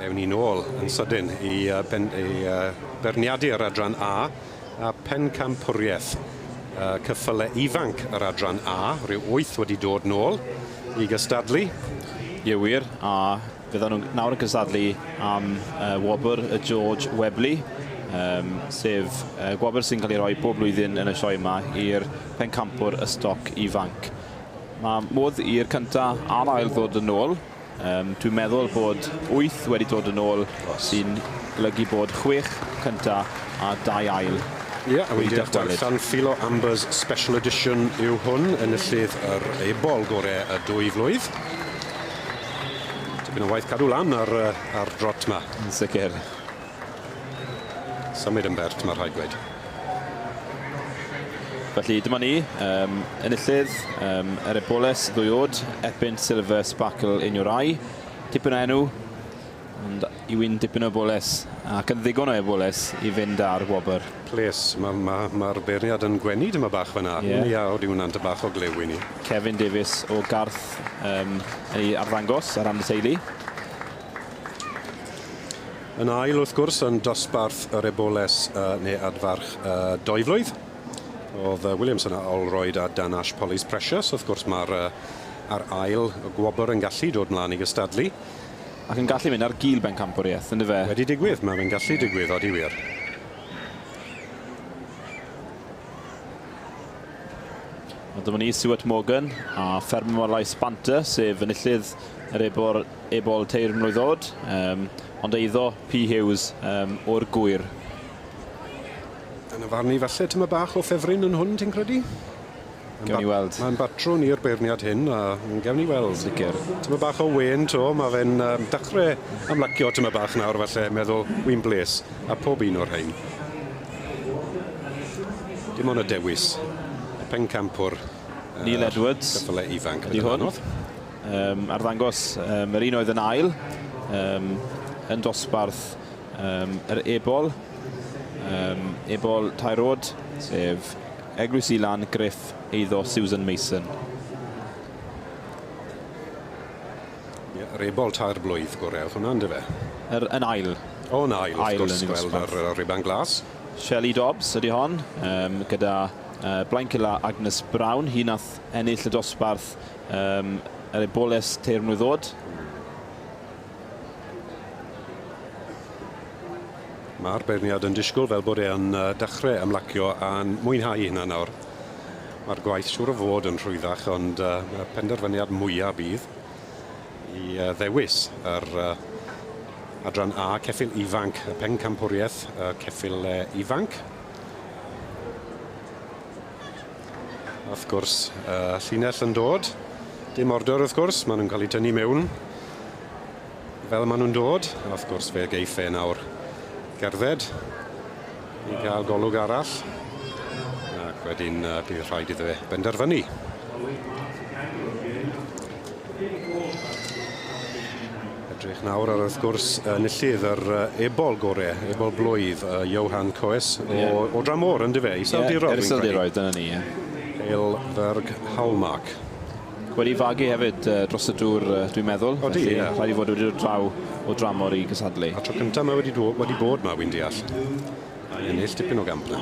Ewn ni'n ôl yn sydyn i, uh, ben, i uh, berniadu yr adran A a pencampwriaeth uh, cyffyle ifanc yr adran A, rhyw wyth wedi dod nôl i gystadlu. Ie wir, a Fyddan nhw nawr yn cystadlu am uh, wobr y George Webley, um, sef uh, gwobr sy'n cael ei rhoi bob blwyddyn yn y sioe yma i'r pencampwr y stoc ifanc. Mae modd i'r cyntaf a'r ail ddod yn ôl. Um, dwi'n meddwl bod wyth wedi dod yn ôl sy'n golygu bod chwech cyntaf a dau ail Ie, yeah, a wedi darllen Philo Amber's Special Edition yw hwn yn y llydd yr ebol gorau y dwy flwydd. Tipyn o waith cadw lan ar yy ar drot 'ma. Yn sicir. Symud yn bert, mae rhaid gweud. Felly dyma ni, um, enillydd, um, Ereboles, ddwy od, Epin, Silver, Sparkle, In Your Eye, tipyn o enw, Ond yw hi'n dipyn o boles ac yn ddigon o eboles i fynd â'r wobr? Plis, mae'r ma, ma beirniad yn gwenu dyma bach fan'na. Ie. Wn i a odi hwnna'n ty bach o glyw i ni. Cefin Davies o Garth um, yn ei arddangos ar ran y teulu. Yn ail, wrth gwrs, yn dosbarth yr eboles uh, neu adfarch uh, doeflwydd. Oedd uh, Williamson a Olroyd a Dan Ash Polly's Precious, wrth gwrs, mae'r uh, ar ail gwobr yn gallu dod mlaen i gystadlu. Ac yn gallu mynd ar gil bencampwriaeth, yndyfe? Wedi digwydd, mae fe'n gallu digwydd, odi wir. Ond dyma ni Stuart Morgan a Fferm Morlais Banter, sef enillydd yr ebol, ebol teir mlwydd oed, um, ond eiddo P Hughes um, o'r gwyr. Yn y farn i, falle tyma bach o ffefryn yn hwn, ti'n credu? Gewn ni weld. Mae'n batrwn i'r beirniad hyn a gewn ni weld. Sicr. Tyma bach o wên to, mae fe'n um, dechrau amlacio tyma bach nawr falle, meddwl wy'n bles, a pob un o'r rhain. Dim ond y dewis, y pencampwr. Uh, Neil Edwards. Cyffyle ifanc. Ydy hwn. Um, arddangos um, yr un oedd yn ail, um, yn dosbarth Um, yr ebol, um, ebol Tairod, sef Eglwys Ilan Griff eiddo Susan Mason. Yr ebol tair blwydd gorau oedd hwnna, ynddo fe? Yr, yn ail. O, yn ail, ail wrth gwrs, gweld ar y riban glas. Shelley Dobbs ydy hon, um, gyda uh, Blaincula Agnes Brown, hi nath ennill y dosbarth um, yr eboles teir mlwydd oed. Mae'r beirniad yn disgwyl fel bod e yn dechrau ymlacio a'n mwynhau hynna nawr. Mae'r gwaith siŵr o fod yn rhwyddach ond uh, y penderfyniad mwyaf bydd i uh, ddewis yr uh, adran A, ceffil ifanc, y pencampwriaeth, y ceffil uh, ifanc. Wrth gwrs, y llinell yn dod. Dim order wrth gwrs, maen nhw'n cael eu tynnu mewn fel maen nhw'n dod. Wrth gwrs, fe geiff e nawr gerdded i gael golwg arall. Ac wedyn uh, bydd rhaid iddo fe benderfynu. Edrych nawr ar wrth gwrs enillydd yr yy ebol gore, ebol blwydd yy Johan Coes o Ie. o Dramor yndyfe? Ie. Iseldirodd fi'n credu. Iseldiroedd dyna ni ie. Aelfyrg Hallmark. Wedi fagu hefyd yy dros y dŵr yy dwi'n meddwl. Odi ie. Felly rhaid 'i fod wedi dod draw o dramor i gysadlu. A tro cynta mae wedi do- wedi bod 'ma wi'n deall. Mae'n ennill tipyn o gamp 'na.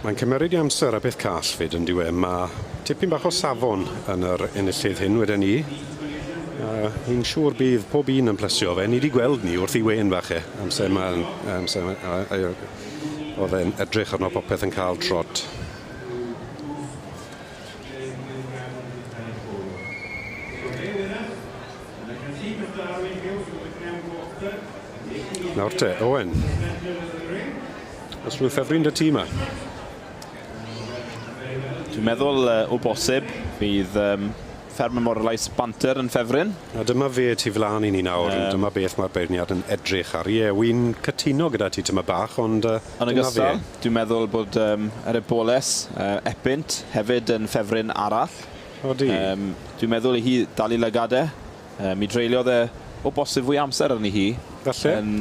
Mae'n cymeryd i amser a peth call fyd yndyw e? Ma tipyn bach o safon yn yr enillydd hyn weden i, a fi'n siŵr bydd pob un yn plesio fe. Ni di gweld ni wrth i wên fach e, amser ma amser ma a a a oedd e'n edrych arno popeth yn cael trot. Nawr te, Owen. Os rwy'n ffefryn dy tîm a? Dwi'n meddwl yy o bosib bydd yym ffermio Morlais Banter yn ffefryn. A dyma fe tu flan i ni nawr, Yym. dyma beth mae'r beirniad yn edrych ar. Ie, wy'n cytuno gyda ti tyma' bach ond yy dyna fe. Yn ogystal, dwi'n meddwl bod yym yr Eboles yy Epynt hefyd yn ffefryn arall. Odi. Yym dwi'n meddwl i hi dal i lygad e. Yy mi dreuliodd e o bosib fwy o amser arni hi. Falle. Yn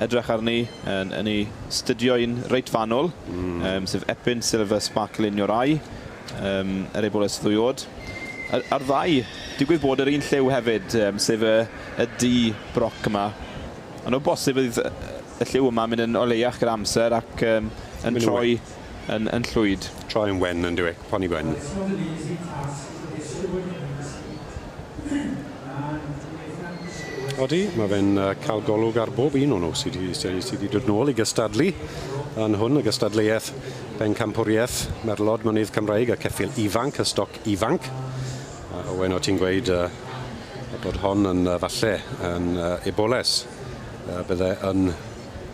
edrych arni yn yn ei studio un reit fanwl. Mm. Yym sef Epin Silver Sparkle in Your Eye. Yym er ei bod ers ddwy oed. A'r, a'r ddau, digwydd bod yr un lliw hefyd, um, sef y, y du broc yma. Ond o bosib bydd y lliw yma mynd yn oleiach gyda amser ac um, yn troi yn yn llwyd. Troi'n wen yn Duwic, poni gwyn. It's not an easy task to be steward in an estate. Mae'n weithio'n ddistawius. Odi, mae fe'n cael golwg ar bob un o'n nhw sy 'di sy 'di sy 'di dod nôl i gystadlu yn hwn, y gystadleuaeth bencampwriaeth merlod mynydd Cymreig, y ceffyl ifanc, y stoc ifanc. A Owen, o ti'n gweud bod hon yn falle yn eboles, bydde yn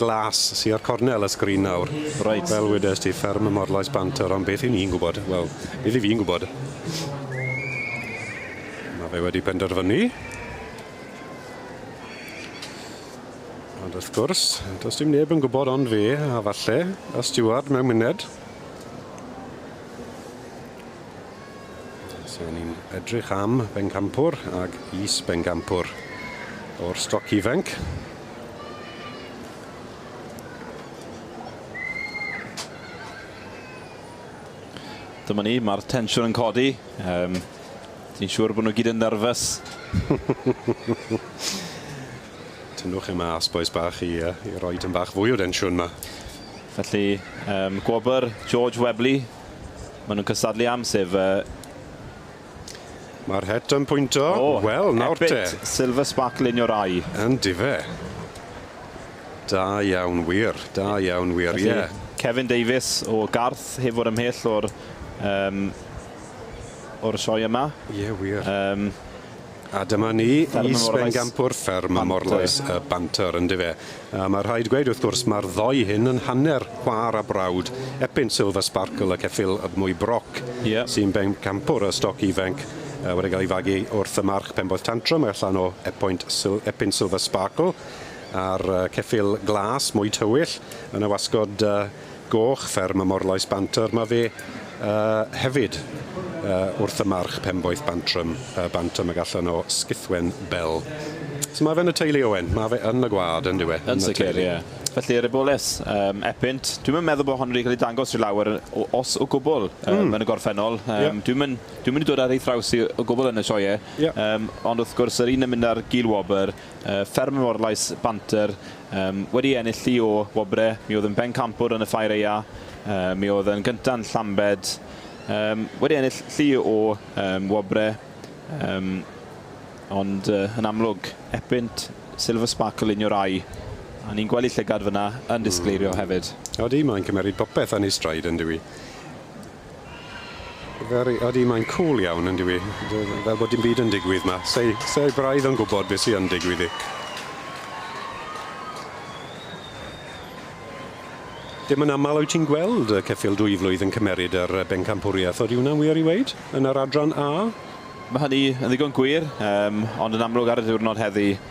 glas sy ar cornel y sgrin nawr. Reit. Fel wedes ti, fferm y Morlais Banter, ond beth yw ni'n gwybod? Wel, beth i fi'n gwybod? Mae fe wedi penderfynu. Ond wrth gwrs, does dim neb yn gwybod ond fe, a falle, y steward mewn myned. So ni'n edrych am bencampwr ag is-bencampwr o'r stoc ifainc. Dyma ni, mae'r tensiwn yn codi. Um, Ti'n siŵr bod nhw gyd yn nerfus? Tynnwch yma as boes bach i, uh, i roi tyn bach fwy o densiwn yma. Felly, um, gwobr George Webley Ma' nw'n cystadlu am sef yy Ma'r het yn pwynto. O! Wel nawr te. Epyt silver sparkle in your eye. Yndyfe? Da iawn wir, da iawn wir, ie. Cefin Davies o Garth heb fod ymhell o'r yym o'r sioe yma. Ie wir. Yym. A dyma ni, Is-bencampwr Fferm Morlais y Banter, yndyfe? A ma' rhaid gweud, wrth gwrs, ma'r ddou hyn yn hanner chwa'r a brawd, Epynt Silver Sparkle a Ceffyl Mwy Broc... Ie. ...sy'n bencampwr y stoc ifainc yy wedi ga'l ei fagu wrth y March Penboeth Tantrum a allan o Epynt Sil- Epynt Silver Sparkle a'r yy Ceffyl Glas mwy tywyll yn y wasgod yy Goch, fferm ym Morlais Banter, mae fe hefyd wrth y march Penboeth Bantram, Bantam ag allan o Sgithwen Bell. So mae fe yn y teulu Owen, mae fe yn y gwlad yn dyw e? Yn sicr, ie. Felly yr Eboles, yym Epynt, dwi'm yn meddwl bod hon wedi cael ei dangos i lawer o os o gwbl yym yn y gorffennol. Yym dwi'm yn dwi'm yn mynd i dod ar ei thraws hi o gwbl yn y sioe. Ie. Yym ond wrth gwrs yr un yn mynd ar gul wobr Ffermwr Lais Banter, wedi ennill llu o wobrau. Mi oedd yn bencampwr yn y Ffair Ea, mi oedd yn gyntaf yn Llambed, wedi ennill llu o wobrau, ond yn amlwg, epynt Silver Sparkle un o'r Eye, a ni'n gwely llygad fyna yn disgleirio hefyd. Odi, mae'n cymeryd popeth yn ei straid, yndyw i? Very, odi mae'n cŵl iawn yndyw i? Fel bod dim byd yn digwydd 'ma. Sa i sa i braidd yn gwbod be' sy yn digwydd i. Dim yn amal wyt ti'n gweld y ceffyl dwy flwydd yn cymeryd yr yy bencampwriaeth, odi wnna'n wir i weud, yn yr adran A? Mae hynny yn ddigon gwir, yym, ond yn amlwg ar y diwrnod heddi,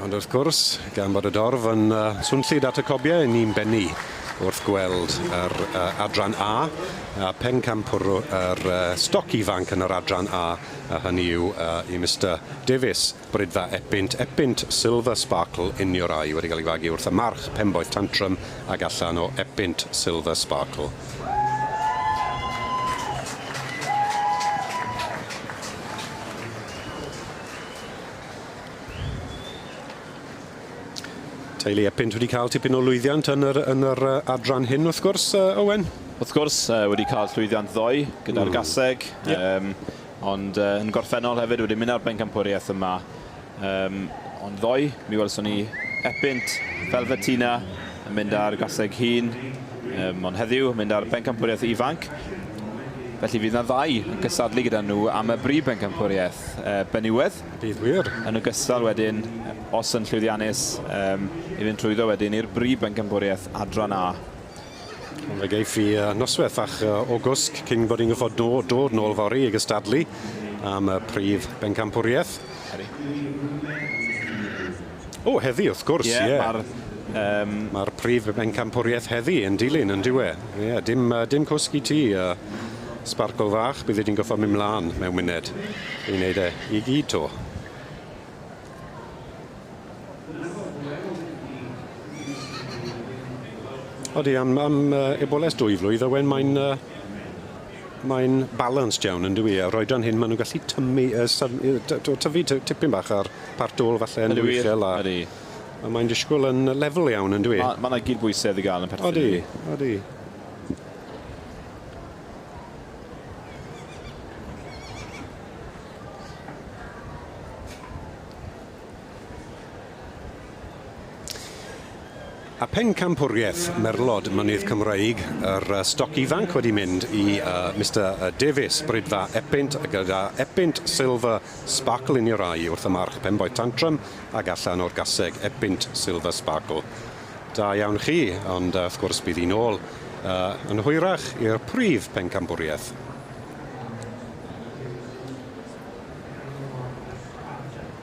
Ond wrth gwrs, gan fod y dorf yn swnllyd at y cobiau, 'yn ni'n bennu wrth gweld yr adran A, a phencampwr yr stoc ifanc yn yr adran A, a hynny yw i Mister Davies, Brydfa Epynt, Epynt Silver Sparkle yn yw'r ai wedi cael ei fagu wrth y march Penboeth Tantrum ac allan o Epynt Silver Sparkle. Teulu Epynt wedi cael tipyn o lwyddiant yn yr yn yr yy adran hyn wrth gwrs yy Owen? Wrth gwrs yy wedi cael llwyddiant ddoe gyda'r gaseg yym ond yy yn gorffennol hefyd wedi mynd ar bencampwriaeth yma yym ond ddoe mi welson ni Epynt fel Fatina yn mynd ar gaseg hŷn Um, ond heddiw, mynd ar bencampwriaeth ifanc. Felly fydd yna ddau yn gysadlu gyda nhw am y brif bencampwriaeth uh, Beniwedd. Bydd wir. Yn ogystal wedyn, os yn llwyddiannus, um, i fynd trwyddo wedyn i'r brif bencampwriaeth Adran A. Fe geiff i uh, noswaith fach uh, o gwsg cyn bod i'n gyffod do, dod nôl fori i gystadlu am y prif bencampwriaeth. Heri. O heddi wrth gwrs ie. Ie ma'r yym... Ma'r prif bencampwrieth heddi yn dilyn yndyw e? Ie dim yy dim cwsg i ti yy sbarcl fach bydde di'n goffod myn' mlan mewn munud i neud e i gyd 'to. Odi am am yy ebola's dwy flwydd a wen mae'n yy Mae'n balanced iawn yndyw 'i? Yr oedran hyn ma' nw gallu tymu yy sym- yy t- t'wo' tyfu ty- tipyn bach ar part ôl falle yn fwy uchel a... Ydi wir, ydi. A mae'n disgwl yn yy lefel iawn yndyw 'i? Ma' ma' 'na gydbwysedd i ga'l yn perthyn iddi. Odi, odi. A phencampwriaeth merlod mynydd Cymreig yr stoc ifanc wedi mynd i Mister Davies, brydfa epynt gyda epynt silver sparkle yn ei rai wrth y march penboeth Tantrum ag allan o'r gaseg epynt silver sparkle. Da iawn chi, ond wrth gwrs bydd hi'n ôl yn hwyrach i'r prif phencampwriaeth.